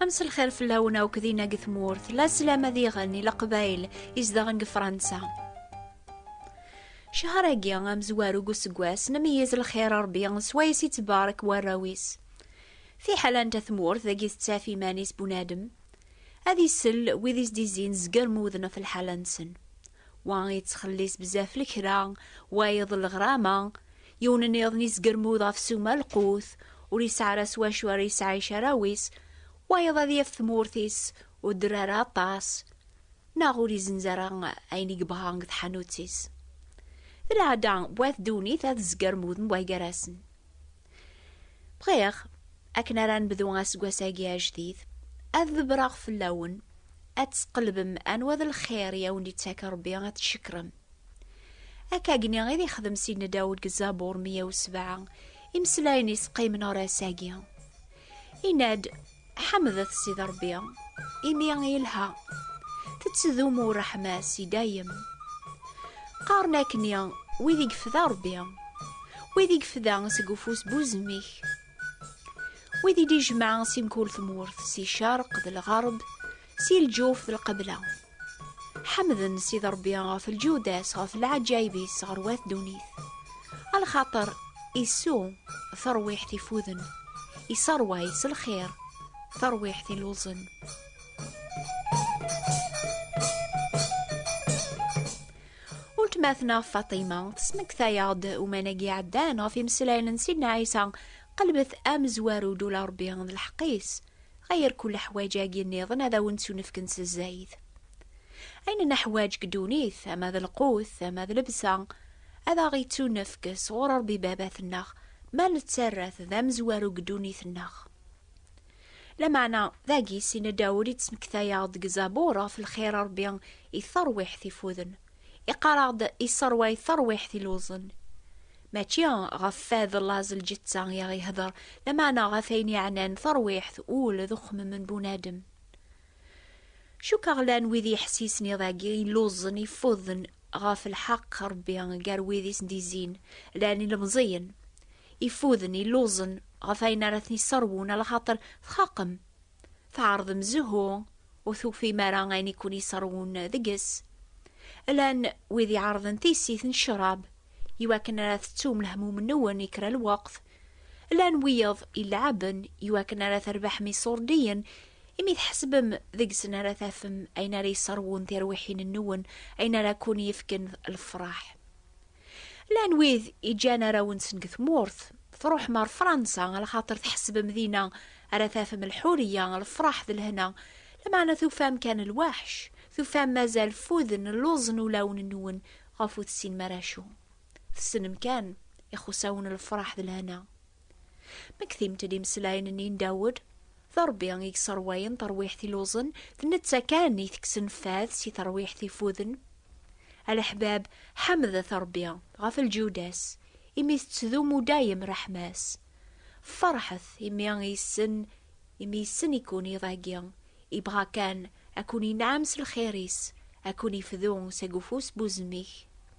Ames lxir fell-awen akk dinna deg tmurt, la slam ad iɣen i leqbayl izdeɣen deg Fransa. Cehar-agi amezwaru deg useggas, nemyiz lxir Rebbi s wayes ittbarek warraw-is. Fiḥel anta tmurt dagi tettaf iman-is bunadem, ad isell wid is-d-izzin zger muden ɣef lḥala-nsen. Wa yettxellis bzaf lekra, wayeḍ leɣrama, yiwen niḍen yesgermud ɣef suma lqut, ur yesɛi ara s wacu ara yesɛic arraw-is, wayeḍ ad yaf tmurt-is ur dderr ara aṭas, neɣ ur izenz ara ayen i yebɣa deg tḥanut-is. D lɛada n wat ddunit ad zgermuden wagarasen. Bɣiɣ, akken ara nebdu aseggas-agi ajdid, ad ḍebreɣ fell-awen, ad tesqelbem anwa d lxir i awen-d-ittak Rebbi ad tcekrem. Akkagni i d ixdem Sidna Dawed deg Zabur 107, imeslayen-is qqimen ɣer ass-agi. Inna-d, Ḥemdet Sidi Ṛebbi, imi yelha, tettdumu ṛṛeḥma-s i dayem. Qqaren akk-nni wid i yefda Ṛebbi, wid i yefda seg ufus n uzemmik, wid i d-ijemɛ si mkul tmurt, si ccerq d lɣerb, si lǧuf d lqebla. Ḥemden Sidi Ṛebbi ɣef lǧudas, ɣef lɛaǧayib-is ɣer wat ddunit. A lxaṭer isu tarwiḥt ifuden, iṣeṛway s lxiṛ tarwiḥt iluẓen. Uletma-tneɣ Faṭima tesmektay-aɣ-d umanagi iɛeddan ɣef imeslayen n Sidna Ɛisa, qelbet amezwaru d ula Ṛebbi d lḥeqq-is. Ɣer kul aḥwaǧ-agi nniḍen ad awen-ttunefken s zzayed. Ayen neḥwaǧ deg ddunit, ama d lqut, ama d lebsa, ad aɣ-ittunefk sɣur Ṛebbi Babat-nneɣ, ma nettarra-t d amezwaru deg ddunit-nneɣ. Lameɛna, dagi, Sina Dawed ittmekta-yaɣ-d deg Zabur ɣef lxir n Ṛebbi i terwiḥt ifuden. Iqqar-aɣ-d yesserway tarwiḥt iluẓen. Mačči ɣef fad laẓ lǧetta i aɣ-ihder, lameɛna ɣef ayen yeɛnan tarwiḥt, ul d uxemmem n bunadem. Cukkeɣ llan wid yeḥsisen iḍ-agi iluẓen ifuden ɣef lḥeqq Rebbi gar wid i sen-d-izzin, llan ilemẓiyen ifuden iluẓen ɣef ayen ara ten-yesserwun ala xaṭer txaqem, Tɛerḍem zhu, ur tufim ara ayen i ken-iṣerrwen deg-s. Llan wid iɛerḍen tissit n ccrab i wakken ara tettum lehmum-nwen i kra lweqt. Llan wiyeḍ ileɛɛben i wakken ara terbeḥem iṣurdiyen imi tḥesbem deg-sen ara tafem ayen ara iṣerrwen tirwiḥin-nwen, ayen ara ken-yefken lefraḥ. Llan wid iǧǧan arraw-nsen deg tmurt, truḥem ɣer Fransa alaxater tḥesbem dina ara tafem lḥuriya, lefraḥ d lehna, lameɛna tufam kan lwaḥc, tufam mazal ffuden lluẓen ulawen-nwen ɣef ur tessinem ara acu. Tessnem kan ixusawen lefraḥ d lehna. Mektimt-d imeslayen-nni n Dawed, D Rebbi i yesserwayen tarwiḥt iluẓen, d netta kan i tekksen fad si terwiḥt ifuden. A leḥbab, ḥemdet Rebbi, ɣef lǧiwda-s, imi tettdumu dayem ṛṛeḥma-s. Ferḥet, imi yessen, imi yessen-iken iḍ-agi, ibɣa kan a ken-inɛem s lxir-is, a ken-ifdu seg ufus n uzemmik.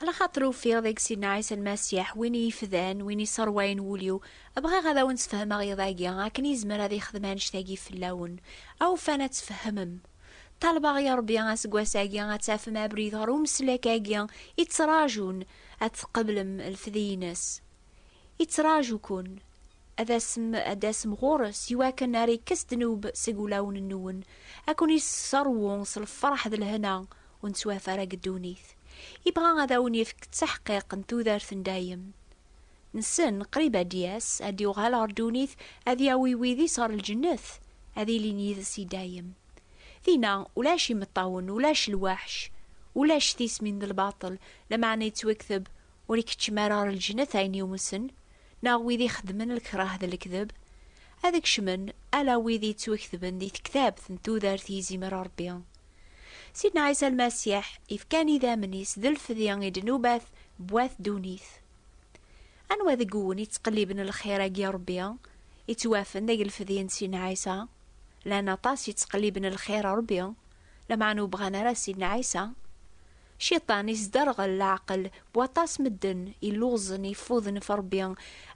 Ala xaṭer ufiɣ deg Sina Ɛisa Lmasiḥ, win i ifdan, win isserwayen wul-iw. Bɣiɣ ad awen-sfehmeɣ iḍ-agi, akken yezmer ad yexdem annect-agi fell-awen. Awufan ad tfehmem. Ṭṭalbeɣ i Ṛebbi aseggas-agi ad tafem abrid ɣer umeslek-agi i ttraǧun, ad tqeblem lefdi-ines. Ittraǧu-ken. Ad asem, ad d-tasem ɣur-s, iwakken ar ikkes ddnub seg wulawen-nwen, ad ken-isserwu s lferḥ d lehna, ur nettwafa ara deg ddunit. Yebɣa ad awen-yefk ttaḥqiq n tudert n dayem. Nessen, qrib ad d-yas, ad d-yuɣal ɣer ddunit, ad yawi wid-is ɣer lǧennet, ad ilin yid-s i dayem. Dinna, ulac imeṭṭawen, ulac lwaḥc, ulac tismin d lbaṭel, lameɛna yettwekteb, Ur ikeččem ara ɣer lǧennet ayen yumsen, neɣ wid ixeddmen lkrah d lekdeb. Ad kecmen, ala wid yettwektben di tektabt n tudert i izimer Rebbi. Sidna Ɛisa Lmasiḥ ifkan idammen-is d lfdi i ddnubat n wat ddunit. Anwa deg-wen yettqelliben lxir-agi n Ṛebbi, yettwafen deg lfdi n Sidna Ɛisa? Llan aṭas yettqelliben lxir n Ṛebbi, lameɛna ur bɣan ara Sidna Ɛisa. Cciṭan isderɣel leɛqel n waṭas medden illuẓen yeffuden ɣef Ṛebbi,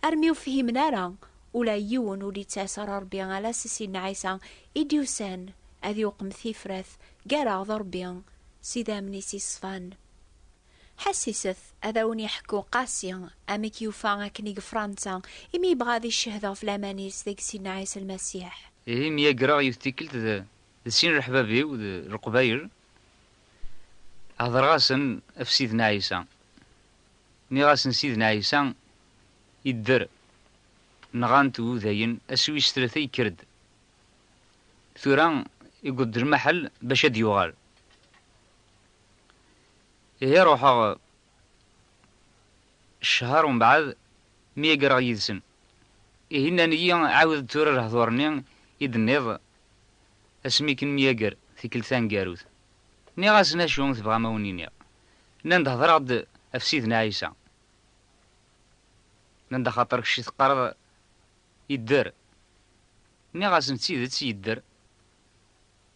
armi ur fhimen ara ula yiwen ur d-yettas ɣer Ṛebbi ala s Sidna Ɛisa I d-yusan ad yuqem tifrat gar-aɣ d Ṛebbi s idammen-is yeṣfan. Ḥassiset ad awen-yeḥku Qasi amek yufa akken i gefṛansa imi yebɣa ad iccehhed ɣef laman-is deg Sidna Ɛisa Lmasiḥ. Ihi myagreɣ yiwet tikkelt d d sin leḥbab-iw d Leqbayel, hedreɣ-asen ɣef Sidna Ɛisa. Nniɣ-asen Sidna Ɛisa idder, nɣan-t wudayen, ass wis tlata yekker-d Tura iggweḍ-d lmaḥel bac ad yuɣal. Ihi ruḥeɣ ccher umbeɛd mi aggreɣ yid-sen. Ihi nnan-iyi ɛiwed-d tura lehdur-nni i d-tenniḍ asmi k-nemyagger tikkelt taneggarut. Nniɣ-asen acu tebɣam a wen-iniɣ. Nnan-d hedreɣ-d ɣef Sidna Ɛisa. Nnan-d axaṭer kečč teqqareḍ Yedder. Nniɣ-asen d tidet yedder,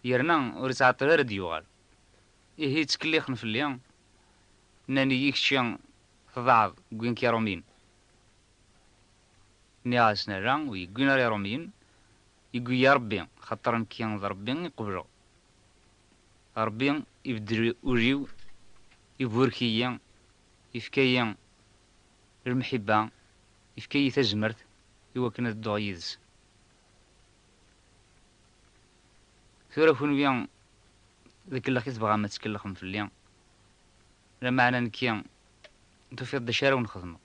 yerna ur ittɛeṭṭil ara ad d-yuɣal. Ihi ttkellixen fell-i, nnan-iyi kečči tḍaɛeḍ wwin-k Iṛumyen. Nniɣ-asen ala, ur yi-wwin ara Iṛumyen, yewwi-yi Ṛebbi, axaṭer nekki d Ṛebbi i qebleɣ. Ṛebbi ibeddel ul-iw, iburek-iyi, yefka-yi Lemḥibba yefka-yi tazmert i wakken ad dduɣ yid-s. Tura kunwi d akellex i tebɣam ad tkellxem fell-i, lameɛna nekki tufiḍ-d acu ara wen-xedmeɣ.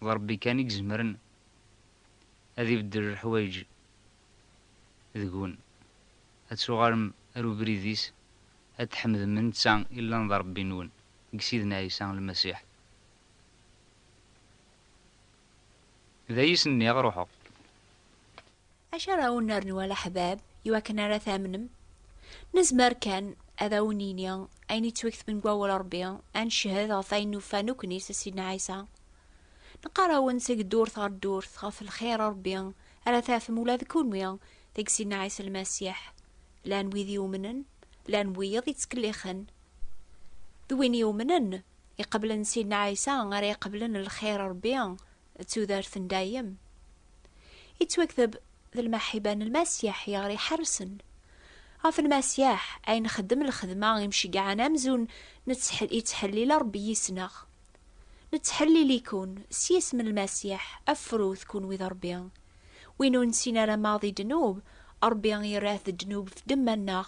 D Rebbi kan i izemren ad ibeddel leḥwayeǧ deg-wen, ad tuɣalem ar ubrid-is, ad tḥemdem netta i llan d Rebbi-nwen deg Sidna Ɛisa Lmasiḥ. D ay as-nniɣ ruḥeɣ. Acu ara awen-nernu a leḥbab i wakken ara tamnem? Nezmer kan ad awen-nini ayen yettwaketben deg wawal Rebbi, ad ncehhed ɣef wayen nufa nekkni s Sidna Ɛisa. Neqqar-awen seg ddurt ɣer ddurt ɣef lxir n Rebbi ara tafem ula d kunwi deg Sidna Ɛisa Lmasiḥ, llan wid yumnen, llan wiyeḍ yettkellixen, D win yumnen, iqeblen Sidna Ɛisa, ara iqeblen lxir n Rebbi d tudert n dayem. Yettwakteb d lmeḥiba n Lmasiḥ i ɣer-iḥerrsen. Ɣef Lmasiḥ ay nxeddem lxedma imceggɛen amzun yettḥellil Rebbi yis-neɣ. Nettḥellil-iken s yisem n Lmasiḥ, afrut kenwi d Rebbi. Win ur nessin ara maḍi ddnub, Rebbi yerra-t d ddnub f ddemma-nneɣ,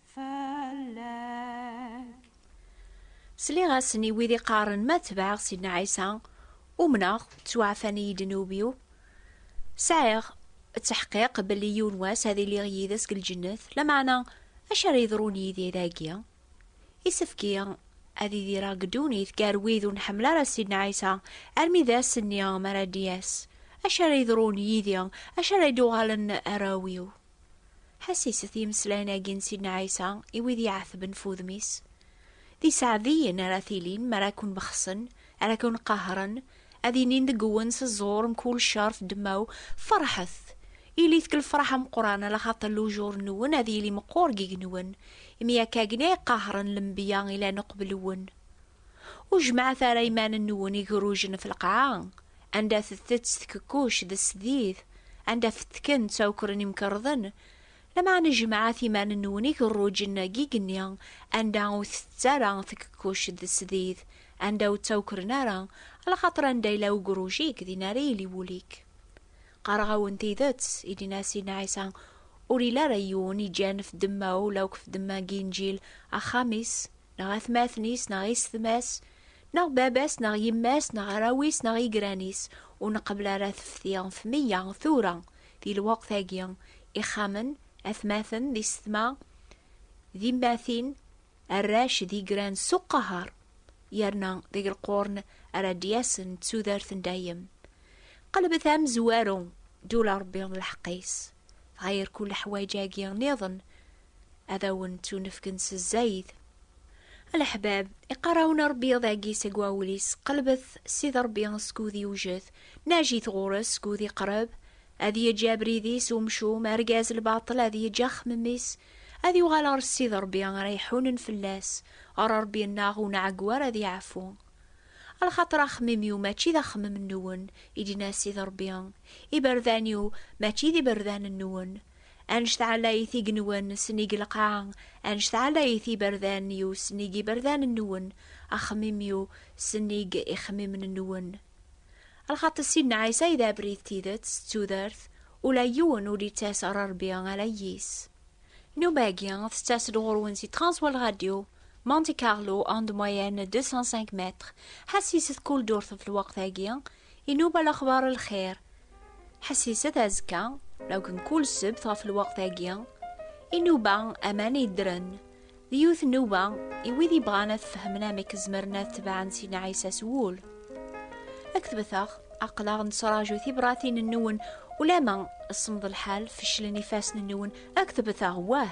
Sliɣ-asen i wid iqqaren ma tebɛeɣ Sidna Ɛisa, umneɣ, ttwaɛfan-iyi-d ddnub-iw, sɛiɣ ttḥqiq belli yiwen wass ad iliɣ yid-s deg lǧennet, lameɛna acu ara yeḍrun yid-i dagi? Isefk-iyi ad idireɣ deg ddunit gar wid ur nḥemmel ara Sidna Ɛisa armi d ass-nni mi ara d-yas. Acu ara yeḍrun yid-i? Acu ara d-uɣalen arraw-iw? Ḥassiset yimeslayen-agi n Sidna Ɛisa i wid iɛetben f udem-is. D iseɛdiyen ara tilin mi ara ken-bexsen, ara ken-qahren, ad inin deg-wen s ẓẓur mkul ccer f ddemma-w, Ferḥet! Ilit deg lefraḥ ameqqran, ala xaṭer lujur-nwen ad yili meqqur deg-wen, imi akka agni ay qahren lenbiya ilan uqbel-nwen. Ur jemɛet ara iman-nwen igrujen ɣef lqaɛa, anda tettett tkekkuct d tesdit, anda fettken ttawkren imkerḍen, lameɛna jemɛet iman-nwen igerrujen n yigenni anda ur tettett ara tkekkuct d tesdit, anda ur ttawkren ara, lxaṭer anda yella ugruj-ik, din ara yili wul-ik. Qqareɣ-awen tidet, i d-yenna Sidna Ɛisa, ur yelli ara yiwen iǧǧan ɣef ddemma-w, law ɣef ddemma n yinǧil, axxam-is, neɣ atmaten-is neɣ isetma-s, neɣ baba-s neɣ yemma-s neɣ arraw-is neɣ igran-is, ur nqebbel ara tefti ɣef meyya tura di lweqt-agi, ixxamen, atmaten d isetma d immatin, arrac d igran s uqaher, yerna deg lqurn ara d-yasen d tudert n dayem. Qelbet amezwaru, ddula Rebbi d lḥeqq-is, dɣa yerku leḥwayeǧ-agi niḍen ad awen-ttunefken s zzayt. A leḥbab, iqqar-awen Ṛebbi iḍ-agi seg wawel-is, Qelbet Sidi Ṛebbi skud yewjed, najit ɣur-s skud iqreb, ad yeǧǧ abrid-is umcum, argaz lbaṭel ad yeǧǧ axemmem-is, ad yuɣal ɣer Sidi Ṛebbi ara iḥunen fell-as, ɣer Ṛebbi-nneɣ ur nɛeggu ara ad yeɛfu. A lxaṭer axemmem-iw mačči d axemmem-nwen, i d-yenna Sidi Ṛebbi, iberdan-iw mačči d iberdan-nwen, Anect ɛlayit igenwan snig lqaɛa, anect ɛlayit iberdan-iw snig iberdan-nwen, axemmim-iw snig ixemmimen-nwen. Lxaṭi Sidna Ɛisa i d abrid, tidet, d tudert, ula yiwen ur ittas ɣer Rebbi ala yis. Nnuba-agi tettas-d ɣur-wen si Transworld Radio, Monte Carlo, onde moyenne 205 mètres, ḥass-iset kuldurtef lweqt-agi, Inuba laxbar lxir. Ḥessiset azekka, law mkul ssebt ɣef lweqt-agi, inuba aman yeddren, d yiwet nnuba i wid yebɣan ad fehmen amek zemren ad tebɛen Sina Ɛisa s wul. Ad k-tbeteɣ, aql-aɣ nettraǧu tibratin-nwen ulamma semmeḍ lḥal, feclen ifassen-nwen, ad k-tbeteɣ wah!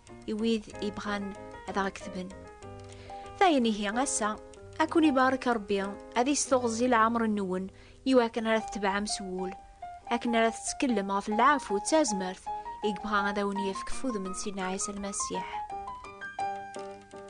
i wid yebɣan ad aɣ-ketben. Dayen ihi ass-a, ad kun-ibarek Rebbi, ad isteɣzi leɛmer-nwen i wakken ara tetbeɛem s wul, akken ara tettkellem ɣef lɛafu d tazmert i yebɣa ad awen-yefk ef udem n Sidna Ɛisa Lmasiḥ.